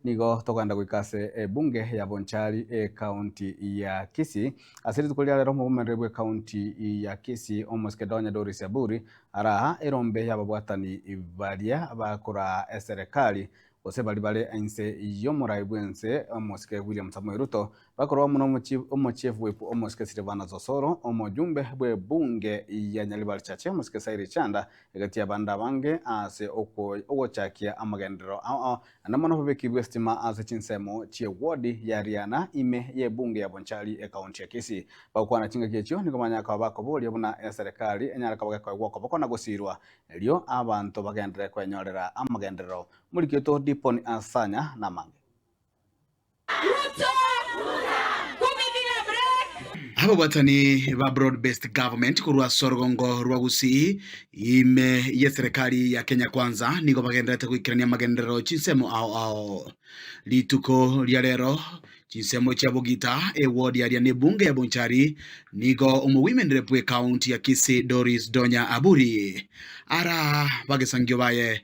Nigo togaenda goika ase ebunge ya Bonchari ecounty ya Kisii. Ase rituko ria rero omobomereri bwe county ya Kisii omosike Donya Doris Aburi araa erombe y'ababwatani baria bakoraa eserekari gose bari bare inse y'omorai bw'ense omosike William Samoei Ruto Bakorwa muno omochiefu bw'epu omosike Silvanos Osoro, omojumbe bw'ebunge ya Nyaribarichache omosike Cyril Chanda, egati y'abande abange ase ogochakia amagenderero ao, naende mono obobeki bw'esitima ase chinsemo chi'ewodi ya Riana ime y'ebunge ya Bonchari ekaunti ya Kisii. Bagokwana chingaki echio nigo banyare koba bakoboria buna eserekari enyare koba gekoegwa okoboko na gosiirwa, erio abanto bagenderere kwenyorera amagenderero. Morigeto Diponi Asanya namange. Ababwatani ba Broad Based Government korwa ase orogongo rwa Gusii ime y'eserekari ya Kenya Kwanza nigo bagendererete goikerania amagenderero chinsemo ao ao. Rituko ria rero chinsemo chia Bogita ewodi aria ne Bunge ya Bonchari nigo Omowoimenire bwe County ya Kisii Doris Donya Aburi ara bagesangio baye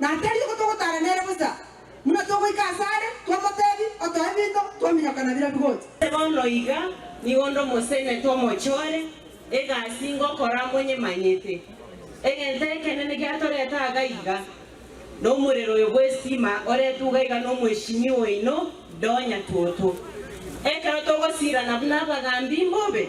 Na tari obo togotaara nere bosa, buna togoika ase are, twamotebi, Otoe binto, twaminyokana na bira bigocha. Bono iga nigo onde omosene twamochore egasi ngokora amonyemanyete. Egento ekenene giatorete aaga iga, nomorero oyo bw'esiima oretugwa iga nomweshimi oino Donya Toto. Ekero togosiirana buna abagambi mbobe,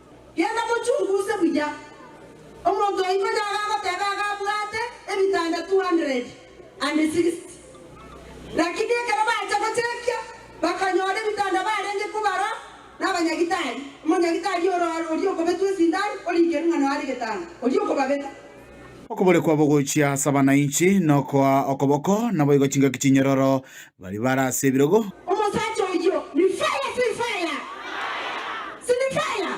Genda mochunguuse buya. Omonto oito yaga agoteba iga abwate ebitanda two hundred and sixty. Lakini ekero bacha gochekia bakanyora ebitanda barenge kobara nabanyagitari, omonyagitari oro oria okobetwa esindani orikerwe ng'a noare getanda, oria okobabeta. Okobore kwabo gochia ase abananchi nokoa okoboko, naboigo chingaki chinyororo Baria bare ase ebirogo. Omosacha oyio ni fire si fire? Si ni fire?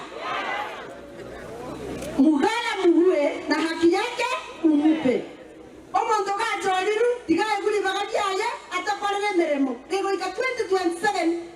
Mugara murue na haki yake umupe. Omonto gachoriru tiga aigure ribaga riaye atakorera emeremo kegoika 2027